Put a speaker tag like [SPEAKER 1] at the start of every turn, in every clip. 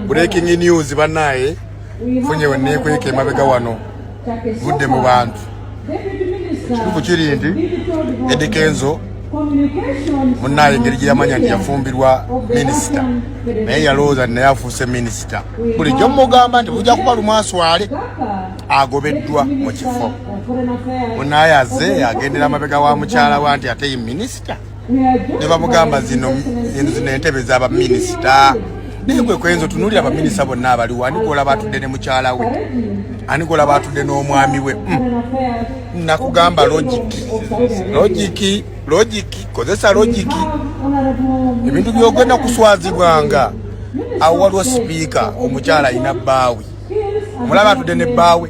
[SPEAKER 1] Breaking news banaye funye wenekweka emabega wano vudde mu bantu ekituufu kiri nti Eddy Kenzo munaye engeri gyeyamanya nti yafumbirwa minisita naye yalowooza naye afuuse minisita bulijjo mugamba nti bujja kuba lumwaswale agobeddwa mu kifo munaye aze agendera amabega wa mukyala wa nti ate ye minisita ne bamugamba zino zino entebe za baminisita naye gwe kwenza otunuulira baminisita bonna abaliwo ani gwolaba atudde ne mukyala we ani gwolaba atudde n'omwami we hmm. nakugamba logiki logiki logiki kozesa logiki ebintu byogenda kuswazibwanga awo waliwo sipiika omukyala alina bbaawe omulaba atudde ne bbaawe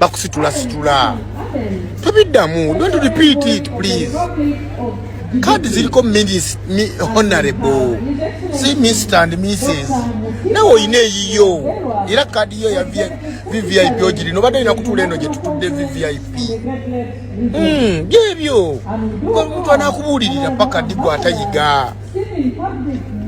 [SPEAKER 1] bakusitula situla tobiddamu don't repeat it please kaadi ziriko honorable si mr and mrs nawe olina eyiyo era kaadi yo ya vvip ogirina obadde olina kutuula eno gyetutudde vvip hmm, byebyo omuntu anakubuulirira paka ddi gwatayiga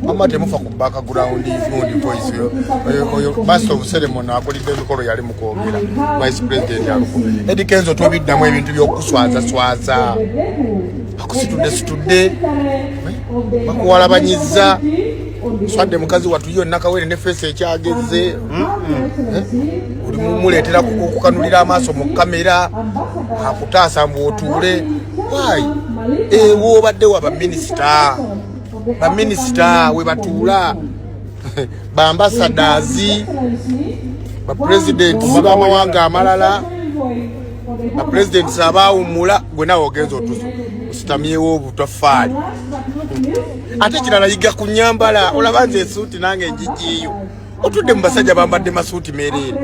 [SPEAKER 1] mama temufa ku background ivundi voice oyo basi obusere muno akulidde emikolo yali mukwogera vice president aluku edi kenzo tobiddamu ebintu byokuswazaswaza akusitudde situdde bakuwalabanyiza swadde mukazi watu yo nakawere ne feesi ekyagezze hmm? hmm? oli mumuleetera kukanulira amaaso mu kamera akutaasa mbu otuule why ewo obadde wa baminisita baminisita we batuula bambasadazi bapulezidenti bamawanga amalala bapulezidenti abaawummula gwe nawe ogenza otuzo ositamyewo obutafaali ate kirala yiga ku nyambala olaba nze esuuti nange njijiyo otudde mu basajja bambadde masuuti mereere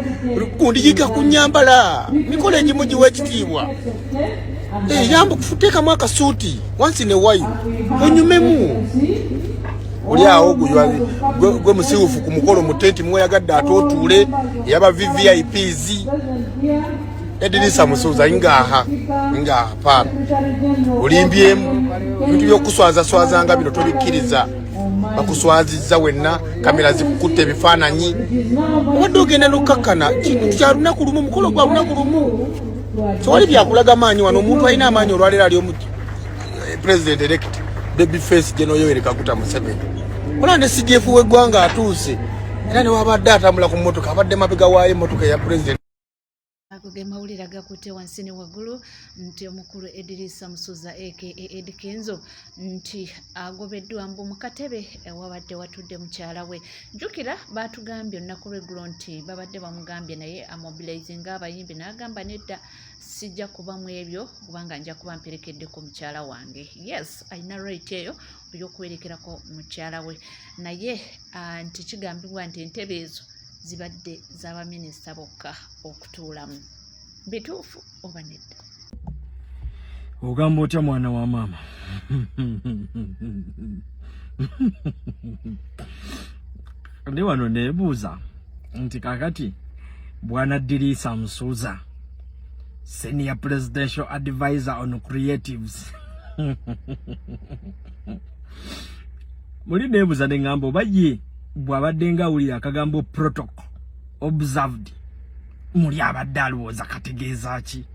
[SPEAKER 1] kundiyiga ku nyambala mikola egimu giwa ekitiibwa eyamba eh, kufuteekamu akasuuti wansi newayo onyumemu oli awo gwe musiwufu ku mukolo mu tenti mweyagadde ate otuule eyaba vvips edirisa musuuza ngaha ngaha paana olimbyemu ebintu byokuswazaswaza nga bino tobikkiriza bakuswazizza wenna kamera zikukutte ebifaananyi obadde ogenda nokkakkana kintu kya lunaku lumu mukolo gwa lunaku lumu tewali byakulaga maanyi wano omuntu alina amaanyi olwaleero ali omu eh, president elect baby face gye noyowere kaguta museveni olaba ne cdf w'eggwanga atuuse era newabadde atambula ku mmotoka abadde mabega waayo emmotoka eya president Ago ge
[SPEAKER 2] mawulire agakutte wansi ne waggulu nti omukulu Edirisa Musuza aka Eddy Kenzo nti agobeddwa mbu mu katebe ewabadde watudde mukyala we. Jjukira baatugambye olunaku lw'eggulo nti babadde bamugambye naye amobilizinga abayimbi n'agamba nedda sijja kuba mu ebyo kubanga nja kuba mperekeddeko mukyala wange. Yes, alina right eyo. ey'okuwerekerako mukyala we naye ah, nti kigambibwa nti entebe ezo zibadde z'abaminisita bokka okutuulamu bituufu oba nedda ogamba
[SPEAKER 3] otya mwana wa maama ndi wano neebuuza nti kakati bwanaddiriisa musuuza Senior Presidential Advisor on Creatives. Muli nebuza ne ngambo baye bwabadde nga uli akagambo protocol observed muli abadde alowooza kategeeza ki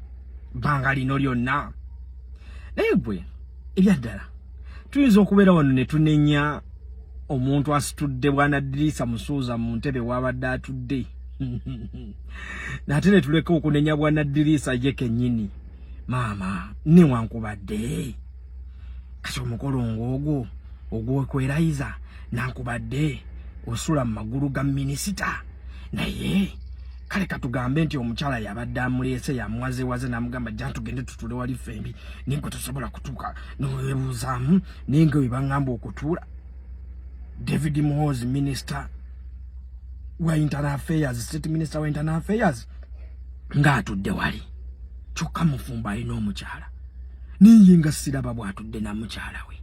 [SPEAKER 3] banga lino lyonna naye gwe ebyaddala tuyinza okubeera wano ne tunenya omuntu asitudde bwanaddirisa musuuza mu ntebe waabadde atudde nate ne tuleka okunenya bwanaddirisa ye kennyini maama newankubadde kati omukolo ng'ogwo ogwokwerayiza nankubadde osula mu magulu ga minisita naye kale katugambe nti omukyala yabadde amuleese yamwazewaze namugamba jantugende tutule wali fembi ninge tosobola kutuuka nowebuuzaamu naye nga webangamba okutuula david mohozi minister wa internal affairs state minister wa internal affairs ng'atudde wali kyokka mufumbo alina omukyala naye nga siraba bw'atudde na mukyala we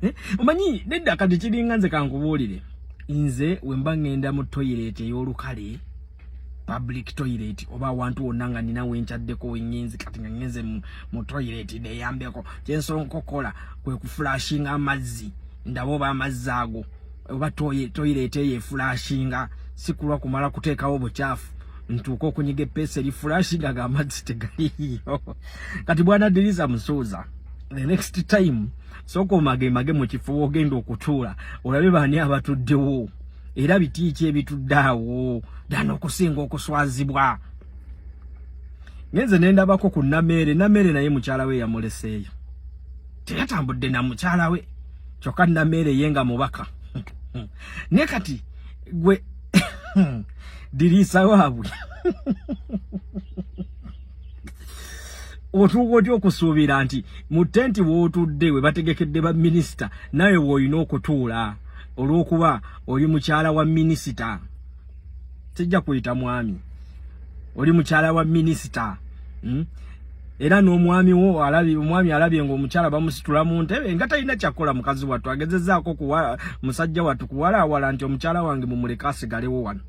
[SPEAKER 3] eh, omanyi nedda kati kiringa nze kankubuulire nze wemba ŋŋenda mu toyireti ey'olukale public toilet oba awantu wonna nga nina wenkyaddeko wengenzi kati nga ngenze mu toilet deyambeko kyensobola nkokola kwe kufulashinga amazzi ndaba oba amazzi ago oba toilet eyo efulashinga sikulwa kumala kuteekawo bukyafu ntuuka okunyiga epeesa eri fulashinga ga amazzi tegaliyo kati bwanadiriza musuuza the next time sooka omagemage mu kifo wogenda okutuula olabe baani abatuddewo era bitiiki ebitudde awo dana okusinga okuswazibwa ngenze nendabako ku nameere nameere naye mukyala we yamuleseeyo teyatambudde na mukyala we kyokka nameere ye nga mubaka ne kati gwe diriisa waabwe otuuka otya okusuubira nti mu tenti wootudde we bategekedde baminisita nawe woolina okutuula olwokuba oli mukyala wa minisita sijja kuyita mwami oli mukyala wa minisita hmm? era n'omwami wo alabi omwami alabye nga omukyala bamusitula mu ntebe nga talina kyakola mukazi wattu agezezaako kuwa musajja wattu kuwalaawala nti omukyala wange mumuleke asigalewo wano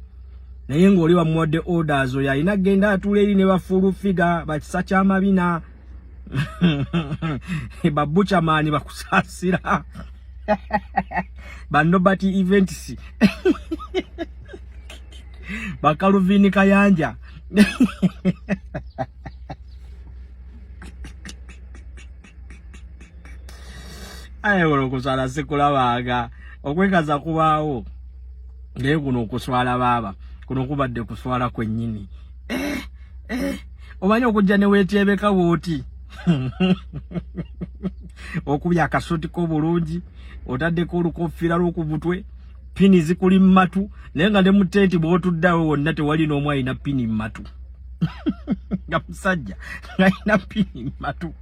[SPEAKER 3] naye ng'oli wamuwadde orders oyo alina genda atuula eri ne bafuulu figa bakisa kyamabina babucha mani bakusasira banobert events bakaluvini kayanja aye kuno okuswala sikulabanga okwekaza kubaawo naye kuno okuswala baaba kuno kubadde kuswala kwennyini eh, eh. omanyi okujja newetyebeka wooti okubya akasuti ko bulungi otaddeko olukofira lwoku butwe pini zikuli mumatu naye nga ne mutenti bwotuddawe wonna tewali n'omu alina pini mumatu nga musajja ngalina pini mumatu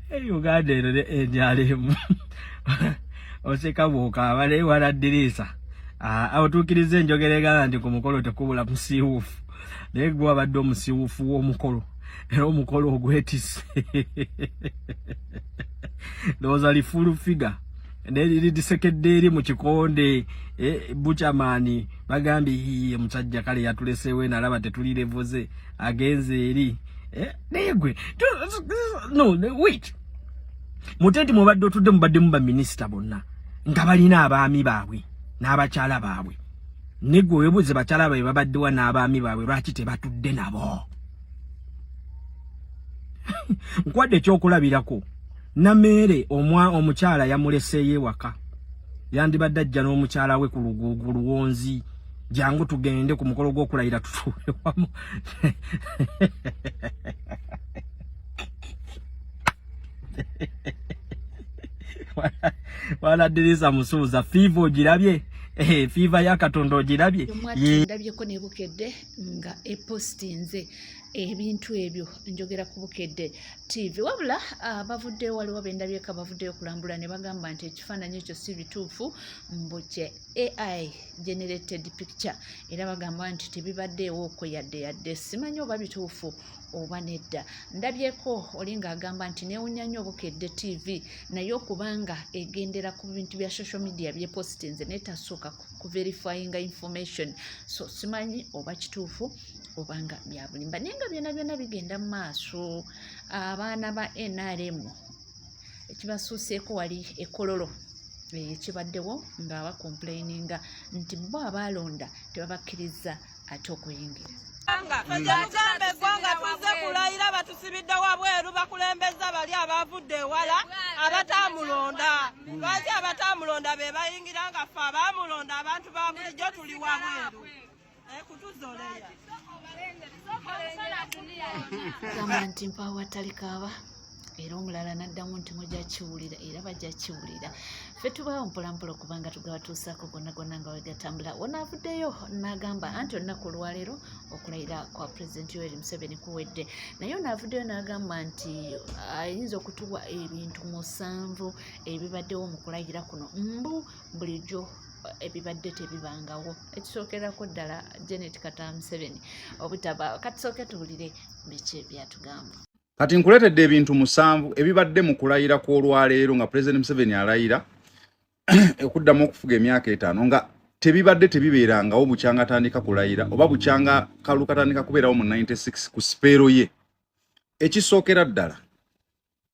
[SPEAKER 3] Hey, Uganda eno ne NRM oseka bw'okaaba naye wala ddirisa ah, otuukiriza enjogera egamba nti ku mukolo tekubula musiiwuufu naye gwe wabadde omusiiwuufu w'omukolo era omukolo ogwetise ndowooza lifulu figa lidisekedde eri mu kikonde eh, bucamani bagambye yiye musajja kale yatuleseewo enalaba tetulirevuze agenze eri eh, naye gwe no wait mutenti mubadde otudde mubaddemu baminisita bonna nga balina abaami baabwe n'abakyala baabwe negwe webuuze bakyala baabwe babaddewa n'abaami baabwe lwaki tebatudde nabo nkwadde ekyokulabirako Nameere omwa omukyala yamuleseeyo ewaka yandibadde ajja n'omukyala we ku luguugu luwonzi jangu tugende ku mukolo gw'okulayira tutuule wamu waladirisa musuuza fiiva ogirabye eh, fiiva ya katonda ogirabye ndabyeko
[SPEAKER 2] nebukedde nga epostinze ebintu ebyo njogera ku bukedde tv wabula ah, bavuddeyo waliwo bendabyeka bavuddeyo kulambula ne bagamba nti ekifaananyi ekyo si bituufu mbu kye ai generated picture era bagamba nti tebibaddeewo okwo yadde yadde simanyi oba bituufu oba nedda ndabyeko oli ng'agamba nti neewunya nnyo obukedde tv naye okubanga egendera ku bintu bya social media byepositinze naye tasooka kuverifyinga information so simanyi oba kituufu obanga byabulimba naye nga byona byona bigenda mu maaso abaana ba nrm ekibasuuseeko wali ekololo ekibaddewo eh, nga bakomplaininga nti bo abaalonda tebabakkirizza ate okuyingira yagamba
[SPEAKER 4] eggwanga tuze kulayira batusibidde wabweru bakulembeza bali abavudde ewala abatamulonda lwaki abatamulonda be bayingira nga ffe abamulonda abantu ba bulijjo tuli wabweru
[SPEAKER 2] gamba nti mpaawo atalikaaba era omulala n'addamu nti mujja kiwulira era bajja kiwulira ffe tubaawo mpolampola okubanga tugabatuusaako gonna gonna nga wegatambula wonaavuddeyo n'agamba anti olunaku olwaleero okulayira kwa pulezidenti yoweri museveni kuwedde naye onaavuddeyo n'agamba nti ayinza okutuwa ebintu musanvu ebibaddewo mu kulayira kuno mbu bulijjo ebibadde tebibangawo ekisookerako ddala janet kata museveni obutaba kati sooke tuwulire biki byatugamba kati
[SPEAKER 5] nkuleetedde ebintu musanvu ebibadde mu kulayira kw'olwaleero nga pulezidenti museveni alayira okuddamu okufuga emyaka etaano nga tebibadde tebibeerangawo bukyanga atandika kulayira oba bukyanga kalu katandika kubeerawo mu 96 ku sipeero ye ekisookera ddala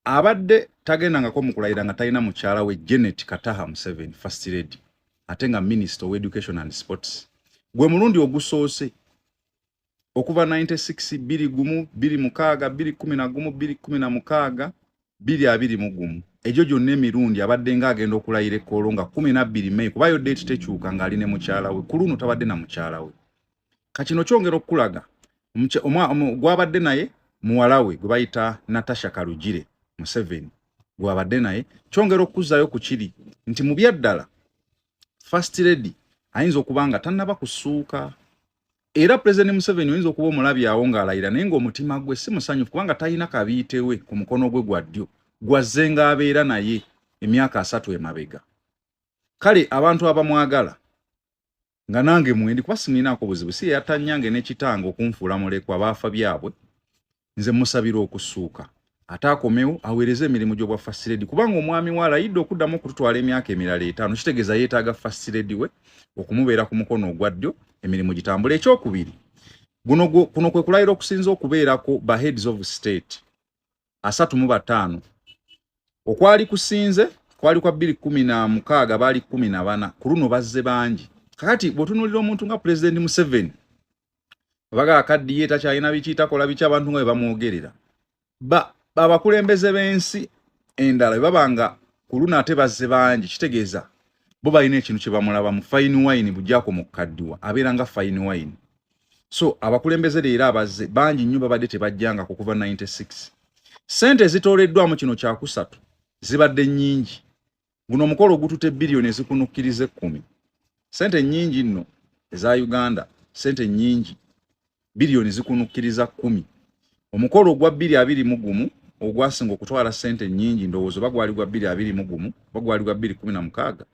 [SPEAKER 5] abadde tagendangako mu kulayira nga talina mukyala we Janet Kataha Museveni first lady ate nga minister of education and sports gwe mulundi ogusoose okuva 96 biri gumu biri mukaaga biri kumi na gumu biri kumi na mukaaga biri abiri mu gumu egyo gyonna emirundi abadde nga agenda okulayira ekkoolo nga kumi nabbiri meyi kubayo deeti tekyuka ng'ali ne mukyala we ku luno tabadde na mukyala we kakino kyongera okukulaga gwabadde naye muwalawe gwe bayita natasha kalugire museveni gwabadde naye kyongera okukuzzayo ku kiri nti mu byaddala first lady ayinza okuba nga tannaba kusuuka era pulezidenti museveni oyinza okuba omulabyawo ng'alayira naye ng'omutima gwe si musanyufu kubanga talina kabiitewe ku mukono gwe gwa ddyo gwazze ng'abeera naye emyaka asatu emabega kale abantu abamwagala nga nange mwendi kuba simuinaako buzibu si yeyatanyange nekitanga okunfuula mulekwa baafa byabwe nze musabira okusuuka ate akomewo aweereze emirimu gyobwa fasiredi kubanga omwami we alayidde okuddamu okututwala emyaka emirala etaano kitegeeza yeetaaga fasiredi we okumubeera ku mukono ogwa ddyo emirimu gitambula ekyokubiri kuno kwe kulayira okusinza okubeerako ba heads of state asatu mu bataano okwali kusinze kwali kwa bbiri kumi na mukaaga baali kumi na bana ku luno bazze bangi kakati bwotunulira omuntu nga pulezidenti museveni abaga akaddiye takyalina biki takola biki abantu nga bwe bamwogerera abakulembeze b'ensi endala bwe baba nga ku luno ate bazze bangi kitegeeza bo balina ekintu kye bamulabamu fayini wayini bujako mu kaddiwa abeera nga fayini wayini so abakulembeze leero abazze bangi nnyo babadde tebajjanga ku kuva 96 sente ezitooleddwamu kino kyakusatu zibadde nnyingi guno omukolo ogutute biliyoni ezikunukkiriza ekkumi sente nnyingi nno eza uganda sente nnyingi biliyoni zikunukkiriza kkumi omukolo ogwa bbiri abiri mu gumu ogwasinga okutwala sente nnyingi ndowoozo oba gwali gwa bbiri abiri mu gumu oba gwali gwa bbiri kumi na mukaaga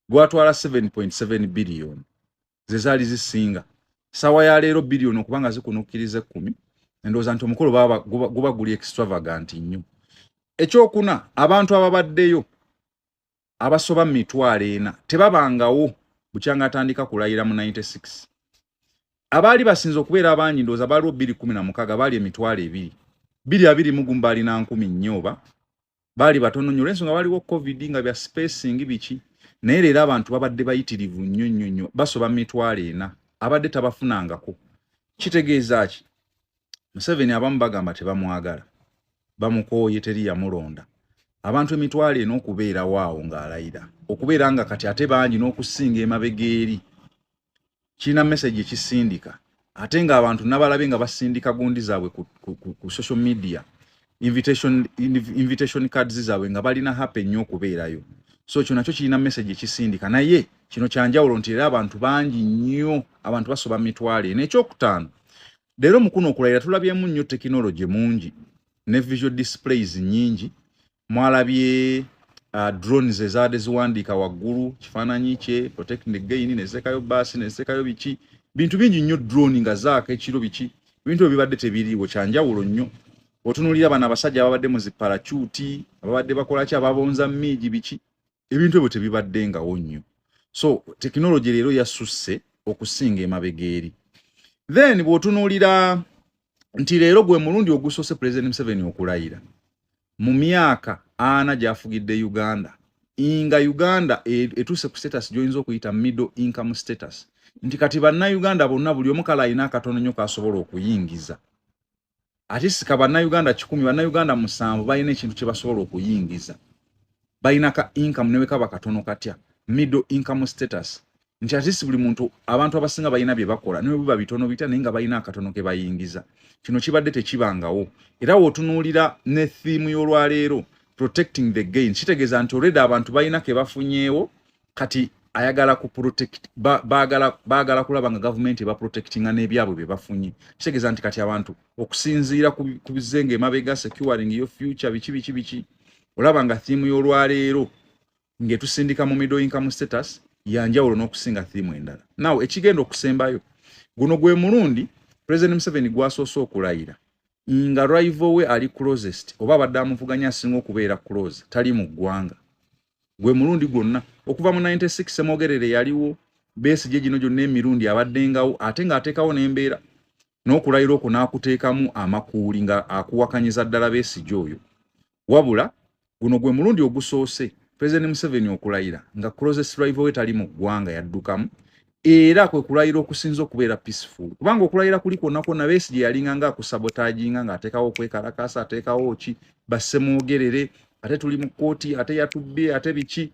[SPEAKER 5] gwatwala 7.7 biliyoni ze zaali zisinga saawa ya leero biliyoni okuba nga zikunukkiriza ekkumi endowooza nti omukolo guba guli extravagant nnyo ekyokuna abantu ababaddeyo abasoba mu mitwalo ena tebabangawo bukyanga atandika kulayira mu 96 abaali basinze okubeera abangi ndowooza baaliwo biri kumi na mukaaga baali emitwalo ebiri biri abiri mugumu baalina nkumi nnyo oba baali batono nnyo olwensonga waliwo covid nga bya spacing biki naye leero abantu babadde bayitirivu nnyo nnyo nnyo basoba mitwalo ena abadde tabafunangako kitegeeza ki museveni abamu bagamba tebamwagala bamukooye teri yamulonda abantu emitwalo ena okubeerawo awo ng'alayira okubeera nga kati ate bangi n'okusinga emabega eri kirina message ekisindika ate nga abantu nabalabye nga basindika gundi zaabwe ku, ku, ku, ku social media invitation, invitation cards zaabwe nga balina happy nnyo okubeerayo so kyo nakyo kirina message ekisindika naye kino kyanjawulo nti era abantu bangi nnyo abantu basoba mitwalo eno ekyokutaano leero mukuno okulayira tulabyemu nnyo tekinologi mungi ne visual displays nyingi mwalabye uh, drones ezaade ziwandiika waggulu kifaananyi kye protect the gain nezitekayo baasi nezitekayo biki bintu bingi nnyo drone nga zaaka ekiro biki ebintu ebyo bibadde tebiriiwo kyanjawulo nnyo otunulira bano abasajja ababadde mu zipalacuti ababadde bakolaki ababonza miigi biki ebintu ebyo tebibaddengawo nnyo so tekinologi leero yasusse okusinga emabega eri then bw'otunuulira nti leero gwe mulundi ogusoose pulezidenti museveni okulayira mu myaka ana gy'afugidde uganda nga uganda e-, etuuse ku status gyoyinza okuyita middle income status nti kati bannayuganda bonna buli omu kale alina akatono nnyo k'asobola okuyingiza ate sika bannayuganda kikumi bannayuganda musanvu balina ekintu kye basobola okuyingiza balina ka income newe kaba katono katya middle income status nti atisi buli muntu abantu abasinga balina bye bakola newe biba bitono bitya naye nga balina akatono ke bayingiza kino kibadde tekibangawo era wotunuulira ne thiimu y'olwaleero protecting the gain kitegeeza nti olreda abantu balina ke bafunyeewo kati ayagala ku protect bagala bagala kulaba nga government eba protecting na ebyabwe bye bafunye kitegeza nti kati abantu okusinziira ku bizenge emabega securing your future bichi bichi bichi olaba nga theme y'olwaleero ng'etusindika mu middle income status yanjawulo n'okusinga theme endala naw ekigenda okusembayo guno gwe mulundi president museveni gwasoose okulayira nga rival we ali closest oba abadde amuvuganya asinga okubeera close tali mu ggwanga gwe mulundi gwonna okuva mu 96 semogerere yaliwo beesi gye gino gyonna emirundi abaddengawo ate ng'ateekawo n'embeera n'okulayira okwo n'akuteekamu amakuuli nga akuwakanyiza ddala beesigi oyo wabula guno gwe mulundi ogusoose pulezidenti museveni okulayira nga closest rival we tali mu ggwanga yaddukamu era kwe kulayira okusinza okubeera peaceful kubanga okulayira kuli kwonna kwonna beesi gye yalinga nga akusabotaginga ng'ateekawo okwekalakaasa ateekawo ki bassemwogerere ate tuli mu kkooti ate yatubbye ate biki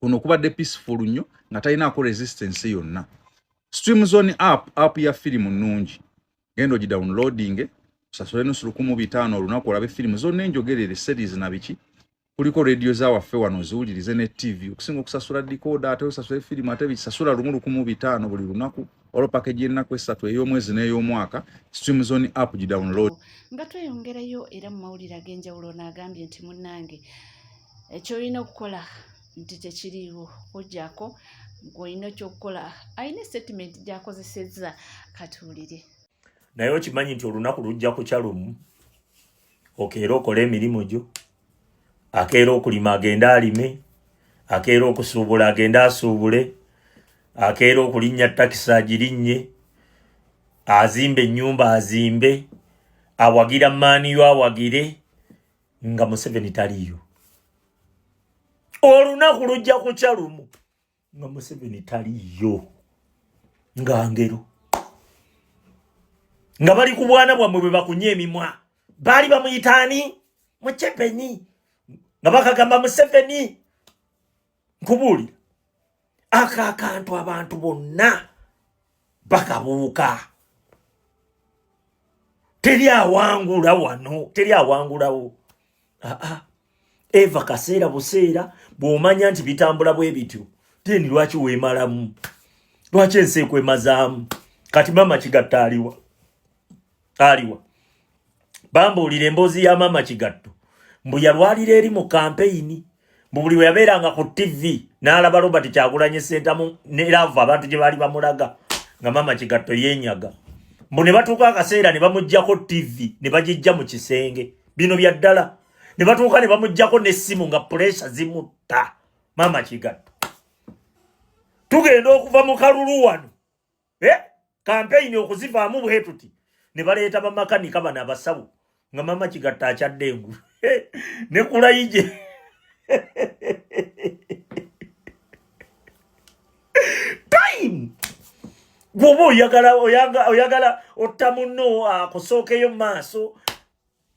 [SPEAKER 5] kuno kubadde peaceful nnyo nga talinaako resistance yonna stream zone app app ya firimu nnungi genda ogi downloading osasule nusu lukumu bitaano olunaku olabe firimu zonna enjogerere series na biki kuliko radio za waffe wano ziwulirize ne tv okusinga okusasula dikoda ate osasula efirimu ate bisasula lumu lukumu bitaano buli lunaku olwo pakeji ennaku esatu ey'omwezi n'ey'omwaka stream zone app gi download nga tweyongerayo
[SPEAKER 2] era mu mawulire ag'enjawulo naagambye nti munnange ekyolina okukola nti tekiriiwo kujjako gwolina okyokukola alina esitatimenti gyakozesezza katuwulire naye
[SPEAKER 6] okimanyi nti olunaku lujja kukya lumu okeera okola emirimu gyo akeera okulima agende alime akeera okusuubula agende asuubule akeera okulinnya takisi agirinnye azimba ennyumba azimbe awagira maaniyo awagire nga museveni taliyo olunaku lujja kukya lumu nga museveni taliyo nga ngero nga bali ku bwana bwammwe bwe bakunya emimwa baali bamuyitaani mucepeni nga bakagamba museveni nkubuulira ako akantu abantu bonna bakabuuka teri awangula wano teri awangulawo aa ah, ah. eva kaseera buseera bw'omanya nti bitambula bwe bityo teni lwaki weemalamu lwaki ensi ekwemazaamu kati maama kigatta aliwa aliwa bambuulira emboozi ya maama kigatto mbu yalwalira eri mu kampeyini mbu buli bwe yabeeranga ku tivi n'alaba robert kyagulanye sentamu neraavu abantu gye baali bamulaga nga maama kigatto yeenyaga mbu ne batuuka akaseera ne bamugjako tivi ne bagijja mu kisenge bino bya ddala ne batuuka ne bamuggyako n'essimu nga puleesa zimutta maama kigatto tugenda okuva mu kalulu wano eh? kampeyini okuzivaamu bwe tuti ne baleeta bamakanika bano abasawo nga maama kigatto akyadde engulu eh? ne kulayije time gwoba oyagala oyagala otta munno akusookeyo mu maaso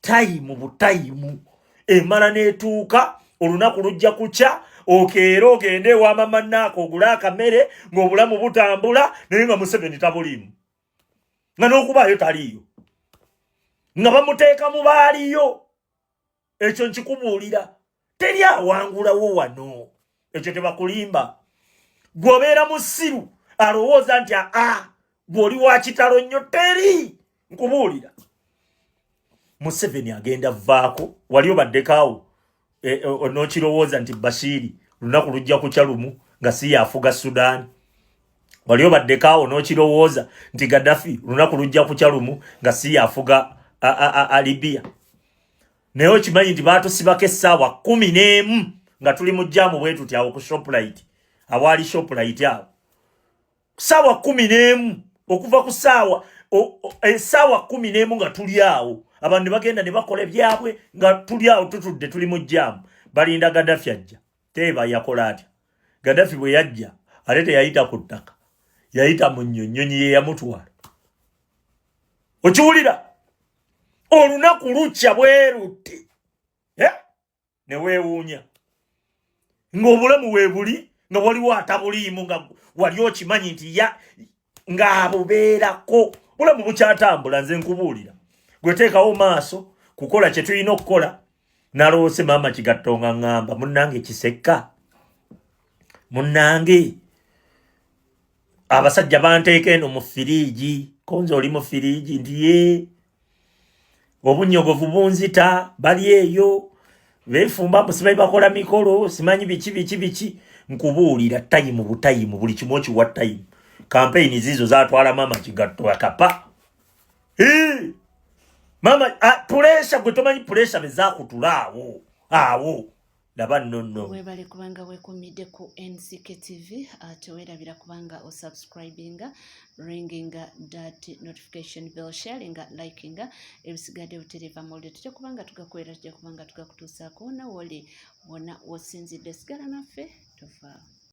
[SPEAKER 6] tayimu butayimu emala n'etuuka olunaku lujja kukya okeera ogende ewamamannaako ogule akamere ng'obulamu butambula naye nga museveni tabuliimu nga n'okubaayo taliiyo nga bamuteeka mu baaliyo ekyo nkikubuulira teri awangulawo wano ekyo tebakulimba gwe obeera musiru alowooza nti aa gwe oli wakitalo nnyo teri nkubuulira museveni agenda vaako wali obaddekaawo e, e, nokirowooza nti bashiri lunaku lujja kukya lumu nga si yafuga sudaani wali obaddekaawo nokirowooza nti gaddafi lunaku lujja kukya lumu nga si yafuga alibiya naye okimanyi nti batusibako essaawa kumi n'emu nga tuli mu jaamu bwe tuti awo ku shopulayiti awaali shopulayiti awo ssaawa kumi n'emu okuva ku ssaawa essaawa e, kumi n'emu nga tuli awo abantu ne bagenda ne bakola ebyabwe nga tuli awo tutudde tuli mu jaamu balinda gadafi ajja teeba yakola atya gadafi bwe yajja ate teyayita ku ttaka yayita mu nnyonnyonyi ye yamutwala okiwulira olunaku lukya bwerutte eh? ne weewuunya ng'obulamu weebuli nga waliwo atabuliimu nga wali okimanyi nti ya ng'abubeerako bulamu bukyatambula nze nkubuulira gweteekawo maaso kukola kye tulina okukola naloose maama kigatto nga ŋŋamba munnange kisekka munnange abasajja banteeka eno mu firiigi konze oli mu firiigi nti ye obunyogovu bunzita bali eyo befumba musimanyi bakola mikolo simanyi biki biki biki nkubuulira tayimu butayimu buli kimu okiwa tayimu kampeyini ziizo zatwala maama kigatto akapa maama ah, puresha gwe tomanyi puresha bezakutula awo awo laba nno nno webale kubanga
[SPEAKER 2] wekumidde ku nck tv ah, tewerabira kubanga osubscribinga ringinga dat notification bell sharinga likinga ebisigadde butereeva mawulire tujja kubanga tugakolera tujja kubanga tugakutuusaako nawe oli wona wosinzidde sigala naffe tuvaawo